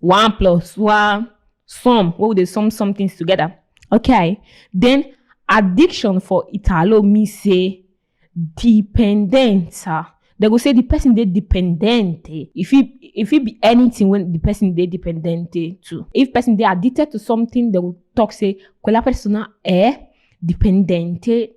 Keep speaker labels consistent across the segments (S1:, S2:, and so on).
S1: one plus one sum wey we dey sum sum things together okay then addiction for italo mean say dependence ah dem go say the person dey dependent eh e fit e fit be anything wey the person dey dependent eh to if person dey addicted to something dem go talk say quella persona è dipendente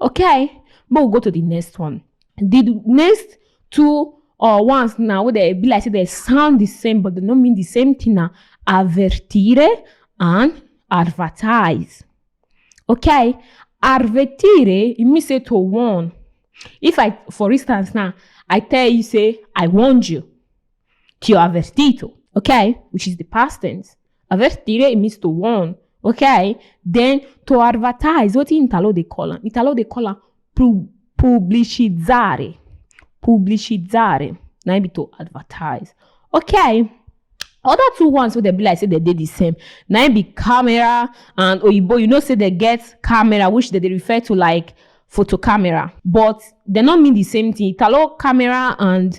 S1: Okay, but we go to the next one. The next two or ones now wey dey be like say dey sound the same but dey no mean the same thing na avertire and advertise. Okay, avertire e mean say to warn. If I for instance now I tell you say I warned you, ti ho avvertito, okay, which is the past tense. I just stay in Mr. One. Okay. Then to advertise, what in Italo they call them? Italo they call them pu- pubblicizzare. Pubblicizzare. Now be to advertise. Okay. Other two ones wey dem be like say dem dey the same na im be camera and oyibo you know say dem get camera which dem dey refer to like photo camera but dem no mean the same thing italo camera and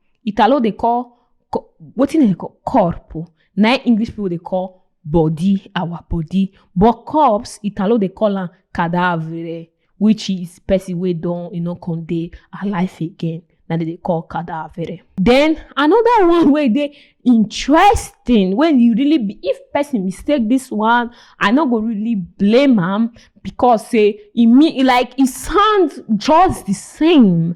S1: italo dey call co- wetin dem dey call corp o na im english people dey call body our body but corpse italo dey call am cadavere which is person wey don e no come dey alive again na dem dey call cadavere. then another one wey dey interesting wey you really be if person mistake this one i no go really blame am because say e mean like e sound just the same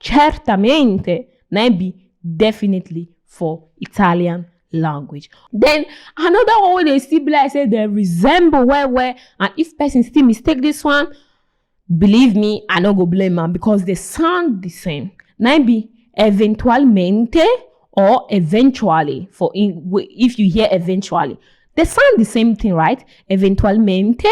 S1: Certamente, maybe, definitely for Italian language. Then another one wey dey still be like say dem resemble well well and if person still mistake this one, believe me, I no go blame am because they sound the same. Na im be eventualmente or eventually for in, if you hear eventually. They sound the same thing, right? Eventualmente,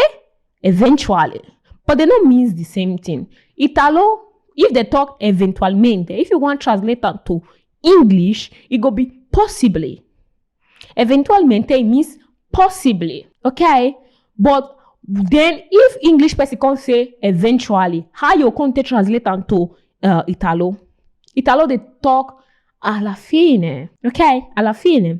S1: eventually but they no means the same thing italo if they talk eventualmente if you wan translate am to english e go be possibly eventualmente e means possibly okay but then if english person come say eventually how you come take translate am to uh, italo italo dey talk alla fine okay alla fine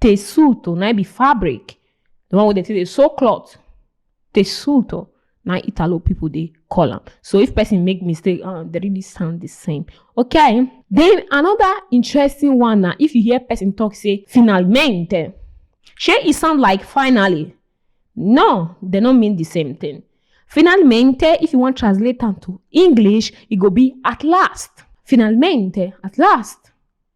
S1: Tessuto, na be fabric. The one wey dem take dey sew cloth. Tessuto, na Italo people dey call am. So if person make mistake, uh, they really sound the same. Okay. Then another interesting one na if you hear person talk say finalmente. Shey e sound like finally? No, they no mean the same thing. Finalmente, if you want translate am to English, e go be at last. Finalmente, at last.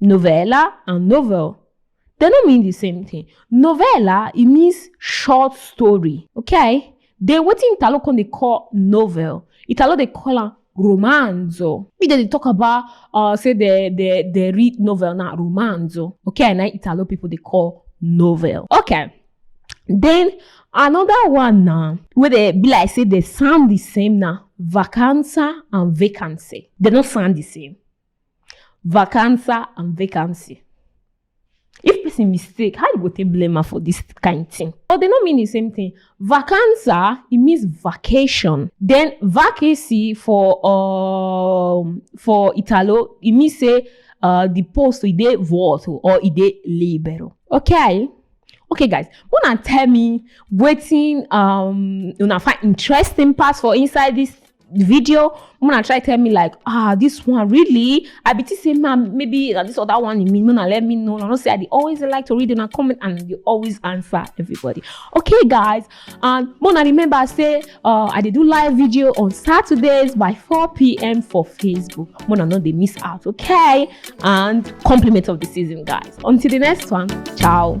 S1: Novella and novel, they no mean the same thing. Novella, it means short story, okay? Then wetin Italo come dey call novel, Italo dey call am romanzo. Make dem dey talk about uh, say they, they, they read novel na romanzo, okay? Na Italo people dey call novel, okay? Then another one na wey dey be like say they sound the same na vacanza and vacancy. They no sound the same. Vacanza and vacancy. If person mistake, how you go take blame am for this kind thing? But they no mean the same thing. Vacanza, it means vacation. Then vacancy for um for Italo, it means say uh the post e dey vuoto or e dey libero. Okay? Okay guys, una tell me wetin um una find interesting pass for inside this video mona try tell me like ah this one really i be think say ma maybe na this other one you mean mona let me know na no say i dey always like to read una comment and dey always answer everybody okay guys and mona remember say uh, i dey do live video on saturdays by 4pm for facebook mona no dey miss out okay and compliment of the season guys until the next one ciao.